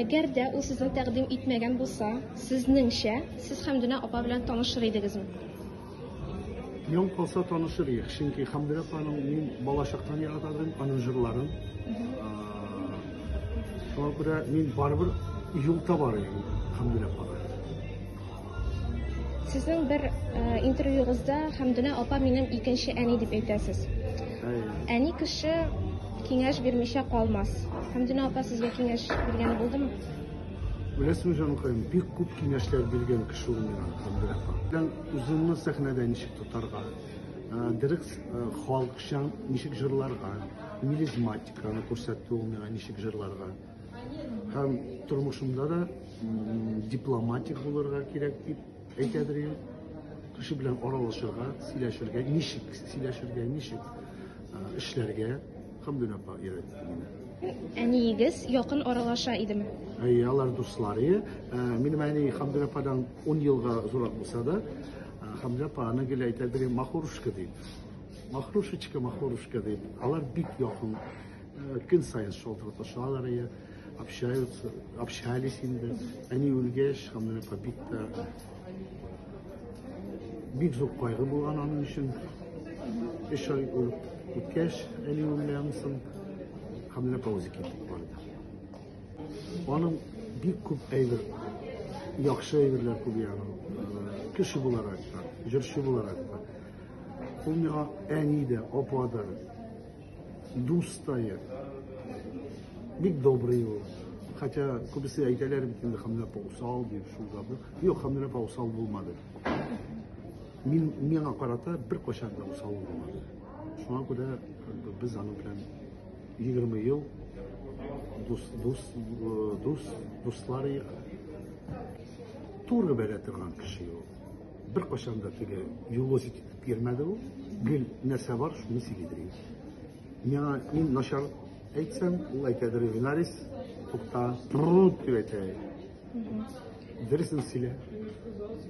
Әгәр дә ул сезне тәкъдим итмәгән булса, сезнеңчә, сез Хәмдүнә апа белән танышыр идегезме? Миң калса танышыр идек, чөнки Хәмдүнә апаның мин балачактан ярата идем, аның җырларын. Шуңа күрә мин барыбер юл табар идем Хәмдүнә апага. Сезнең бер интервьюгызда Хәмдүнә апа минем икенче әни дип әйтәсез. Әни кеше киңәш бирмичә калмас. Хәмдүнә апа сезгә киңәш биргән булдымы? Беләсеңме, җанкаем, бик күп киңәшләр биргән кеше ул миңа Хәмдүнә апа. Белән үзеңне сәхнәдә ничек тотарга, дөрес халыкчан ничек җырларга, мелизматиканы күрсәтте ул миңа ничек җырларга. Һәм тормышымда да дипломатик булырга кирәк дип әйтәдер инде. Кеше белән аралашырга, сөйләшергә, ничек сөйләшергә, ничек эшләргә Хамдүн апа өйрәтте мине. Әниегез якын аралаша идеме? Әйе, алар дуслары. Минем әни Хамдүн ападан 10 елга зурак булса да, Хамдүн апа аны гел әйтәдер, махорушка дип. Махрушечка, махорушка дип. Алар бик якын Э, көн сайын шалтыраташалар иә общаются общались инде әни үлгәч һәм менә побит та бик зур кайгы булган аның өчен өч ай үткәч әни үлгәннән соң һәм менә пауза китеп барды аның бик күп әйбер яхшы әйберләр күп ягы кеше буларак та җырчы буларак та ул миңа әни дә апа да Дустая. Бик добрый ул. Хотя күбесе әйтәләр бит инде Хамиләпә усал дип шулда бу. Юк, Хамиләпә усал булмады. Мин миңа карата бер качан да усал булмады. Шуңа күрә без аның белән 20 ел дус дус дус дуслар Туры бәрә торган кеше ул. Беркайчан да теге юлозит итеп йөрмәде ул. Гел нәрсә бар, шуны сөйлидер иде. Миңа мин начар әйтсәм, ул әйтәдер Винарис, тукта, труд дип әйтә. Дөресен сөйлә.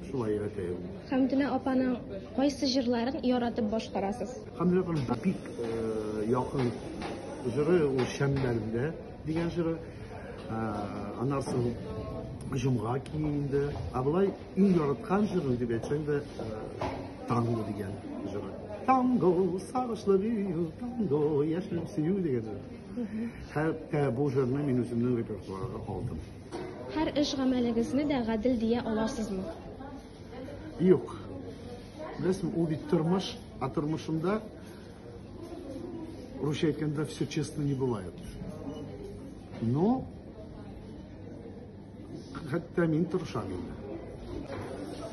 Шулай өйрәтә ул. Хәмдүнә апаның кайсы җырларын яратып башкарасыз? Хәмдүнә апаның бик э, якын җыры ул Шәмдәлдә дигән җыры. Э, Аннан соң Җомга киенде. Ә болай Иң яраткан җырым дип әйтсәң дә, танго дигән җыры. Танго, сагышлы бию, танго, яшереп сөю дигән җыр. Хәтта бу җырны мин үземнең репертуарга алдым. Һәр эш гамәлегезне дә гадел дия аласызмы? Юк. Беләсең, ул бит тормыш, а тормышында Русча әйткәндә все честно не бывает. Но Хәтта мин тырышам инде.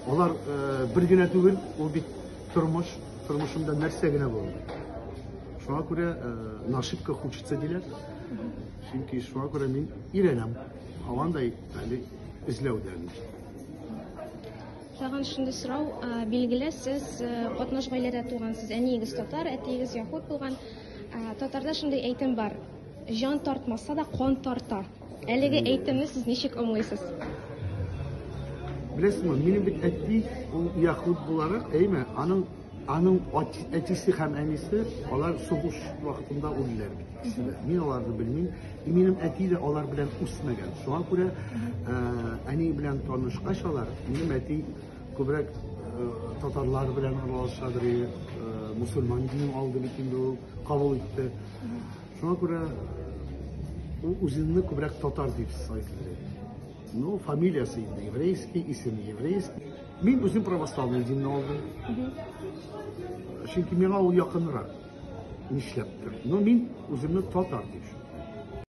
Алар э, бер генә түгел, ул бит тормыш, тормышында нәрсә генә булды. Шуңа күрә э, нашибка хочется диләр. Чөнки шуңа күрә мин өйрәнәм. Һавандай әле эзләүдән. Тагын шундый сорау, э, билгеле, сез катнаш гаиләдә тугансыз. Әниегез татар, әтиегез яһуд булган. Татарда шундый әйтем бар. Җан тартмаса да кан тарта. Әлеге әйтемне сез ничек аңлыйсыз? Беләсеңме, минем бит әти ул яхуд буларак, әйме, аның аның әтисе һәм әнисе алар сугыш вакытында үлделәр бит. Мин аларны белмим. И минем әти дә алар белән үсмәгән. Шуңа күрә ә, әни белән танышкач алар, минем әти күбрәк ә, татарлар белән аралашадыр, ә, мусульман динен алды бит инде ул, кабул итте. Шуңа күрә ул үзенне күбрәк татар дип сайлый. Ну, фамилиясе инде еврейский, исеме еврейский. Мин үзем православный динне алдым. Чөнки миңа ул якынрак. Нишләптер. Но мин үземне татар дип